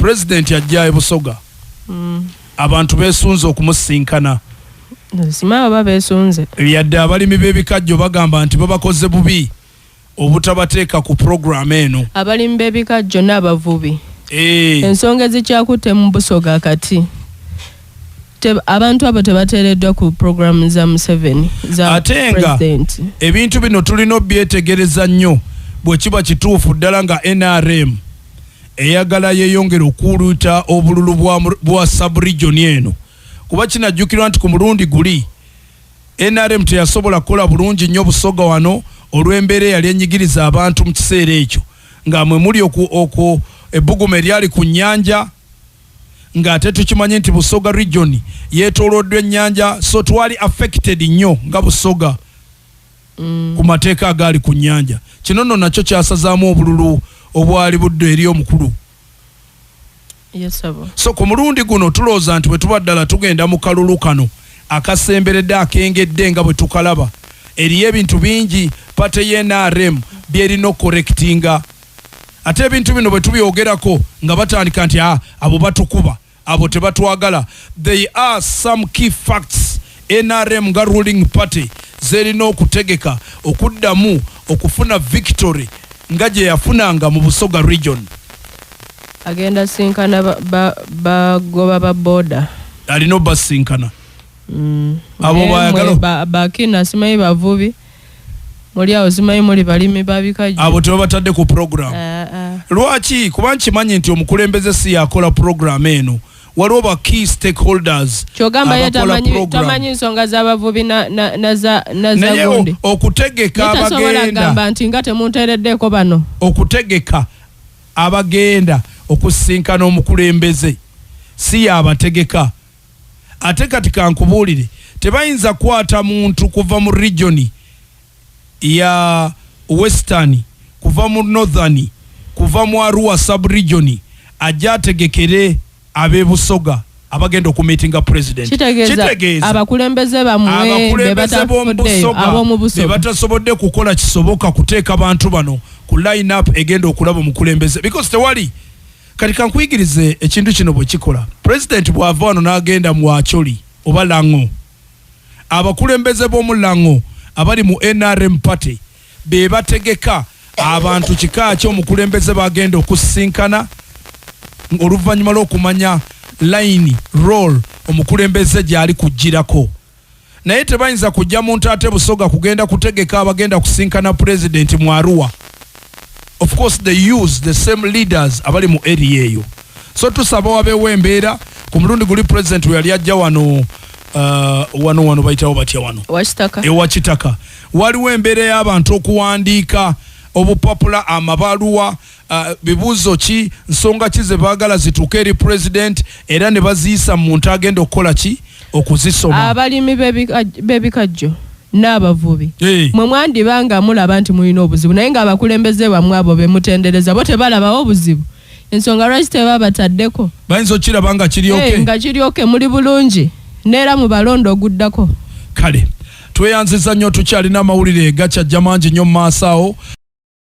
President ajja e Busoga. Mm. Abantu besunze okumusinkana. Sima baba besunze. Yadde abalimi b'ebikajjo bagamba nti babakoze bubi obutabateeka ku program eno. Abalimi b'ebikajjo n'abavubi. Eh. Ensonga ezikyakutte mu Busoga kati. abantu abo tebateereddwa ku programu za museveni ate nga ebintu bino tulina obyetegereza nnyo bwe kiba kituufu ddala nga nrm eyagala yeyongere okuwuluuta obululu bwa saburijoni eno kuba kinajjukirwa nti ku mulundi guli nrm teyasobola kukola bulungi nnyo busoga wano olw'embeera eyali enyigiriza abantu mu kiseera ekyo nga mwe muli okwo ebbuguma eryali ku nnyanja ng'ate tukimanyi nti busoga region yeetooloddwa ennyanja so twali affected nnyo nga busoga mm. ku mateeka agaali ku nnyanja kino nno nakyo kyasazaamu obululu obwali buddo eri omukulu yes, so ku mulundi guno tulowooza nti bwe tuba ddala tugenda mu kalulu kano akasemberedde akengedde nga bwe tukalaba eriyo ebintu bingi pate ye nrm byerina okukorekitinga ate ebintu bino bwe tubyogerako nga batandika nti ah, abo batukuba abo tebatwagala they are some key facts nrm nga ruling party zerina okutegeka okuddamu okufuna victory nga gye yafunanga mu busoga region agenda sinkana bagoba ba boda alina obasinkana mm. abo bayagala bakina simanyi bavubi muli awo zimanyi muli balimi babikajjo abo tebabatadde ku program eh, eh. lwaki kuba nkimanyi nti omukulembeze si yakola program eno waliwo ba key stakeholders kyogamba ye tamanyi nsonga z'abavubi nazagundi okutegeka abagendagamba nti nga temunteereddeeko bano okutegeka abagenda okusinkana omukulembeze si yabategeka Ate kati kankubuulire, tebayinza kukwata muntu kuva mu region ya western, kuva mu northern, kuva mu Arua sub-region ajje ategekere ab'e Busoga abagenda okumiitinga President. Kitegeeza abakulembeze bammwe be batafuddeyo ab'omu Busoga be batasobodde kukola kisoboka kuteeka bantu bano ku line-up egenda okulaba omukulembeze because tewali kati kankuyigirize ekintu kino bwe kikola pulezidenti bw'ava wano n'agenda mu acoli oba laŋo abakulembeze b'omu laŋo abali mu nrm party be bategeka abantu kika ki omukulembeze bagenda okusisinkana oluvannyuma lw'okumanya layini roll omukulembeze gy'ali kuggyirako naye tebayinza kujja mu Ntaate Busoga kugenda kutegeka abagenda kusinkana Pulezidenti mu Arua. Of course they use the same leaders abali mu area eyo. So tusaba wabeewo embeera ku mulundi guli Pulezidenti we yali ajja wano uh, wano wano bayitawo batya wano ewa Kitaka. Waliwo embeera y'abantu okuwandiika obupapula amabaluwa uh, bibuuzo ki nsonga ki ze baagala zituuke eri pulezidenti era ne baziyisa mu muntu agenda okukola ki okuzisoma abalimi b'ebikajjo n'abavubi mwe mwandiba nga mulaba nti mulina obuzibu naye ng'abakulembeze bamwe abo be mutendereza bo tebalabawo obuzibu ensonga lwaki teba bataddeko bayinza okukiraba nga kiryoke nga kiryoke muli bulungi neera mu balonda oguddako kale tweyanziza nnyo tukyalina amawulire gakyajja mangi nnyo mu maaso awo